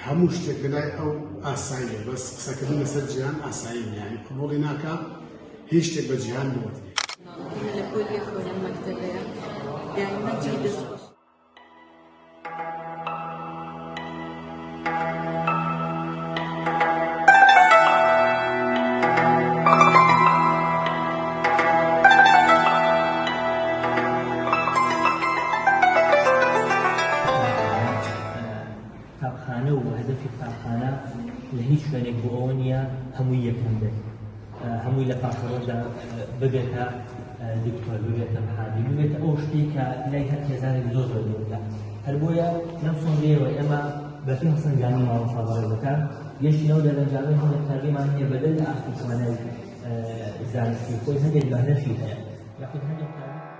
هەموو شتێک لەلای ئەو ئاساییە بەس قسەکردن لەسەر جیهان ئاسایی نیە یانی قبوڵی ناکا هیچ شتێک بە جیهان نەوتێ قوتابخانە و هەدەفی قوتابخانە لە هیچ شوێنێک بۆ ئەوە نییە هەمووی یەکەم بێت، هەمووی لە پاسەوەردا ببێتە دکتۆر، ببێتە محامین، ببێتە ئەو شتێک کە لای هەر خێزانێک زۆر زۆر گرنگە. هەر بۆیە لەم سۆنگەیەوە ئێمە بەپێی هەڵسەنگاندنی مامۆستا بەڕێزەکان گەشتی ناو دەرەنجامەی هەندێک قوتابیمان هەیە بەدەر لە ئاستی توانای زانستی خۆی هەندێک بەهرەشی هەیە یاخود هەندێک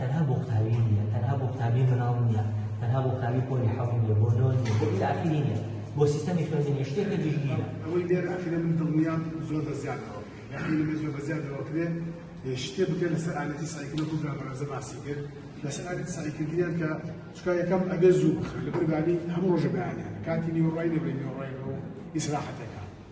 تەنها بۆ قوتابی نییە، تەنها بۆ قوتابی مناڵ نییە، تەنها بۆ قوتابی پۆلی حەوت نییە، بۆ نۆ نییە، بۆ ئیلە ئاخیری نییە، بۆ سیستەمی خوێندنیش شتێکە گشتگیرە. ئەوەی لێرە ئەکرێ من دڵنیام زۆر بە زیادەوە یا خەیلی بێ زۆر بە زیادەوە ئەکرێ شتێ بکرێت لەسەر ئالەتی سایکل وەکو برابەرەزە باسی کرد لەسەر ئالەتی سایکلگریان کە چکا یەکەم ئەبێ زوو بخرێت لەبەر بانی هەموو ڕۆژە بەیانیان کاتی نیوەڕای لەبێ نیوەڕای ئیسراحەتەکە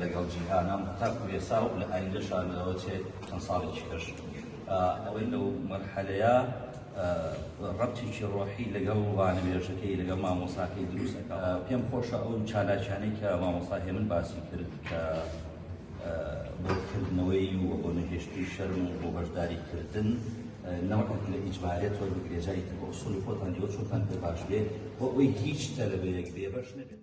لەگەڵ جیهانە تاکو ئێسا و لە ئایندەشا لەوە چێ چەند ساڵێکی کەش ئەوەی لەو مەرحەلەیە ڕەبتێکی ڕۆحی لەگەڵ وانەبێژەکەی لەگەڵ مامۆساکەی دروستەکە پێم خۆشە ئەو چالاکیانەی کە مامۆسا هێمن باسی کرد کە بۆکردنەوەی و بۆ نەهێشتی شەرم و بۆ بەشداری کردن نەوەک لە ئیجبارێت وە بگرێجاری تر بۆ سڵی خۆتان دیوە چۆتان پێ باش بێت بۆ ئەوەی هیچ تەلەبەیەک بێبەش نەبێت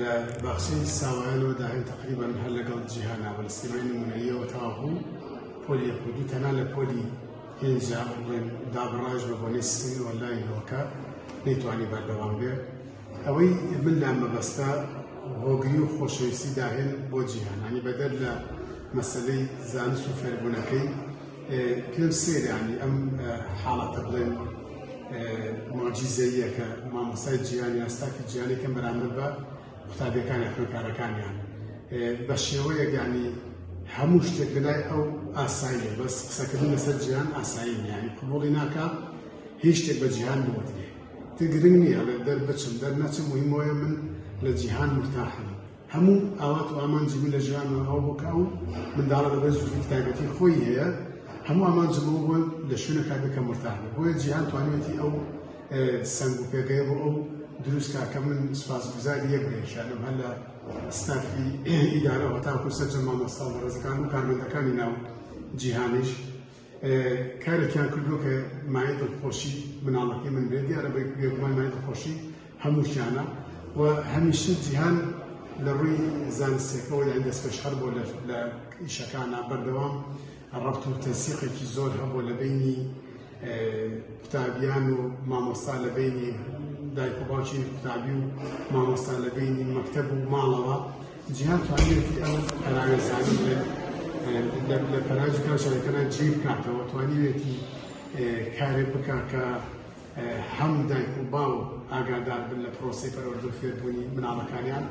لە باخچەی ساوایانەوە داهێن تقریبا هەر لەگەڵ جیهانا بە سیمای نمونەیەوە تاوەبوو پۆلی یەکودی تەنا لە پۆلی پێنجا بڵێن دابڕاش بە بۆنی سیستمی ئۆنلاینەوەکە نەیتوانی بەردەوام بێ ئەوەی من لام مەبەستە هۆگری و خۆشەویستی داهێن بۆ جیهانانی بەدەر لە مەسلەی زانست و فێربوونەکەی پێم سەیرانی ئەم حاڵەتە بڵێن مۆجیزەییەکە مامۆستای جیهان یا ستافی جیهانێکم بەرامبەر بە قوتابیەکانی خوێندکارەکانیان بە شێوەیەگانی هەموو شتێک لەلای ئەو ئاسایی بەس قسەکردن لەسەر جیهان ئاسایی نیانی قوبڵی ناکە هیچ شتێک بە جیهان بوتێ تگرنگ نییە لە دەر بچم دەر نەچم مهمۆیە من لە جیهان مرتاحم هەموو ئاوات و ئامانجی من لە ژیان ئەوە بوو کە ئەو منداڵە بەبێ زووفی تایبەتی خۆی هەیە هەموو ئامانجی بۆ بۆ لە شوێنەکە بکەم مرتاح بێ بۆیە جیهان توانێتی ئەو سنگ و پێگەی بۆ ئەو دروست کاکە من سوپاسگوزاری یەک بێشانم هەر لە ستافی ئیدارە هەتاکو سەرجە مامۆستا بەڕێزەکان و کارمەندەکانی ناو جیهانیش کارێکیان کردو کە مایە دڵخۆشی مناڵەکەی من بێت دیارە بێگومان مایە دڵخۆشی هەمووشیانە و هەمیشە جیهان لە ڕووی زانستەکەەوە یان دەستپێش هەر بۆ لە ئیشەکانە بەردەوام ڕەبت و تەسیقێکی زۆر هەبوو لە بینی قوتابیان و مامۆستا لە بینی دایک و باوکی قوتابی و مامۆستا لە بینی مەکتەب و ماڵەوە جیهان توانیوێتی ئەو پەراوێزانەی لە لە پەراوێزی کاوشەکەدا جێ بکاتەوە توانیوێتی کارێ بکات کە هەم دایک و باو ئاگادار بن لە پرۆسی پەرەوەردە فێربوونی مناڵەکانیان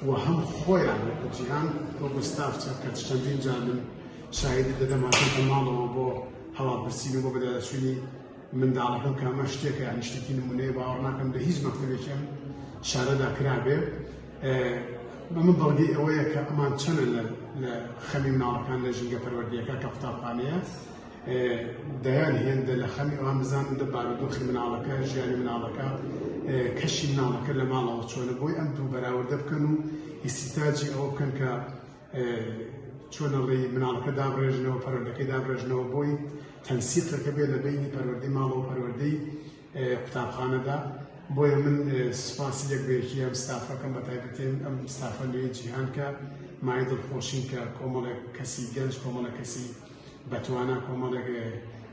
و هەم خۆیان وەکو جیهان بۆ گوستاف چەکە چەندین جار من شاهدی دەدەماتە ماڵەوە بۆ هەواڵپرسین و بۆ بەدەچووی منداڵەکەم کە ئەمە شتێکە یانی شتێکی نمونەیە باوەڕ ناکەم لە هیچ مەکتەبێکی ئەم شارەدا کرابێ بەمە بەڵگەی ئەوەیە کە ئەمان چەنە لە خەمی مناڵەکان لە ژینگە پەروەردیەکە کە قوتابخانەیە دەیان هێندە لە خەمی ئەوان بزانن دە بارودۆخی مناڵەکە ژیانی مناڵەکە کەشی مناڵەکە لە ماڵەوە چۆنە بۆی ئەم دوو بەراوردە بکەن و ئیسیتاجی ئەوە بکەن کە چۆنە ڕێی مناڵەکە دابڕێژنەوە پەروەردەکەی دابڕێژنەوە بۆی تەنسیقەکە بێ لە بینی پەروەردەی ماڵەوە پەروەردەی قوتابخانەدا بۆیە من سوپاسی لەک بێکی ئەم ستافەکەم بە تایبەتێن ئەم ستافە لێ جیهان کە مای دڵخۆشین کە کۆمەڵێک کەسی گەنج کۆمەڵە کەسی بەتوانە کۆمەڵێک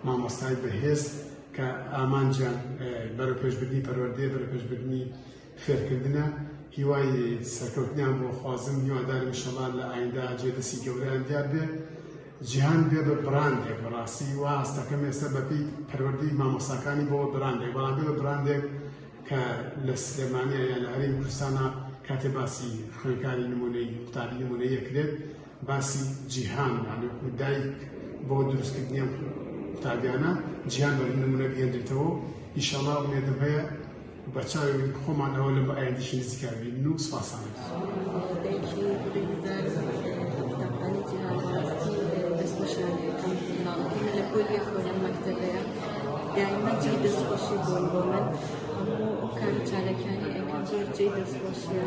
مامۆستای بەهێز کە ئامانجیان بەرەپێشبردنی پەروەردەیە بەرەپێشبردنی خێرکردنە هیوای سەرکەوتنیان بۆ خوازم هیوادارم انشاءاللە لە ئایندا جێ دەسی گەوریان دیار بێ جیهان بێ بە براندێک بەڕاستی وا هەستەکەم ئێستا بەپی پەروەردەی مامۆساکانی بۆ براندێک بەڵام بێ بە براندێک کە لە سلێمانە یا لە هەرێمی کوردستانە کاتێ باسی خوێنکاری نمونەی قوتابی نمونەیەکرێت باسی جیهان یانی وەکو دایک بۆ دروستکردنی ئەم قوتابیانە جیهان بە نمونە بهێنرێتەوە و ئیشەڵا ئومێدم هەیە بە چاوی خۆمان ئەوە لە بە ئایندیشی نزیکا ببینن و سوپاسان دائما جێی دەستخۆشی بۆن بۆ من هەموو ئەو کار چالەکانی ئەکەم زۆر جێی دەستخۆشیە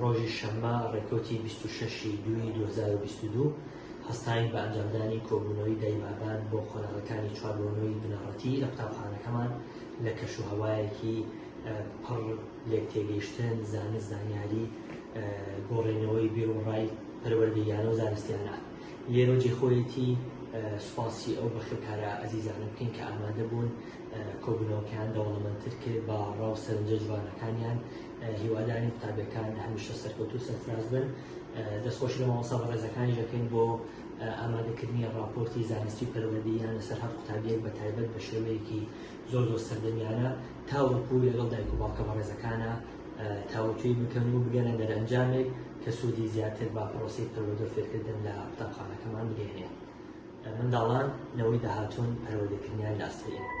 ڕۆژی شەممە ڕێکەوتی 26 ی دووی 2022 هەستاین بە ئەنجامدانی کۆبوونەوەی دای بابان بۆ قۆناغەکانی چواربۆنەوەی بنەڕەتی لە قوتابخانەکەمان لە کەش و هەوایەکی پڕ لێک تێگەیشتن زانست زانیاری گۆڕێنەوەی بێ و ڕای پەروەردەیانە و زانستیانە لێرە جێخۆیەتی سوپاسی ئەو بەخێکارە ئەزیزانە بکەین کە ئامادە بوون کۆبوونەوەکەیان دەوڵەمەندتر کرد بە ڕاو سەرنجە جوانەکانیان هیوادارین قوتابیەکان هەمیشە سەرکەوتوو و سەرفراز بن دەست خۆشی لە مامۆستا بەڕێزەکانی دەکەین بۆ ئامادەکردنی ڕاپۆرتی زانستی و پەروەردەییان لەسەر هەر قوتابیەک بە تایبەت بە شێوەیەکی زۆر زۆر سەردەمیانە تاوەکو لەگەڵ دایک و باوکە بەڕێزەکانە تاوتوی بکەن و بگەنە دەرەنجامێک کە سوودی زیاتر با پرۆسی پەروەردە و فێرکردن لە قوتابخانەکەمان بگەینێ منداڵان نەوەی داهاتوون پەروەردەکردنیان لە ئاستەی ئێمەدا.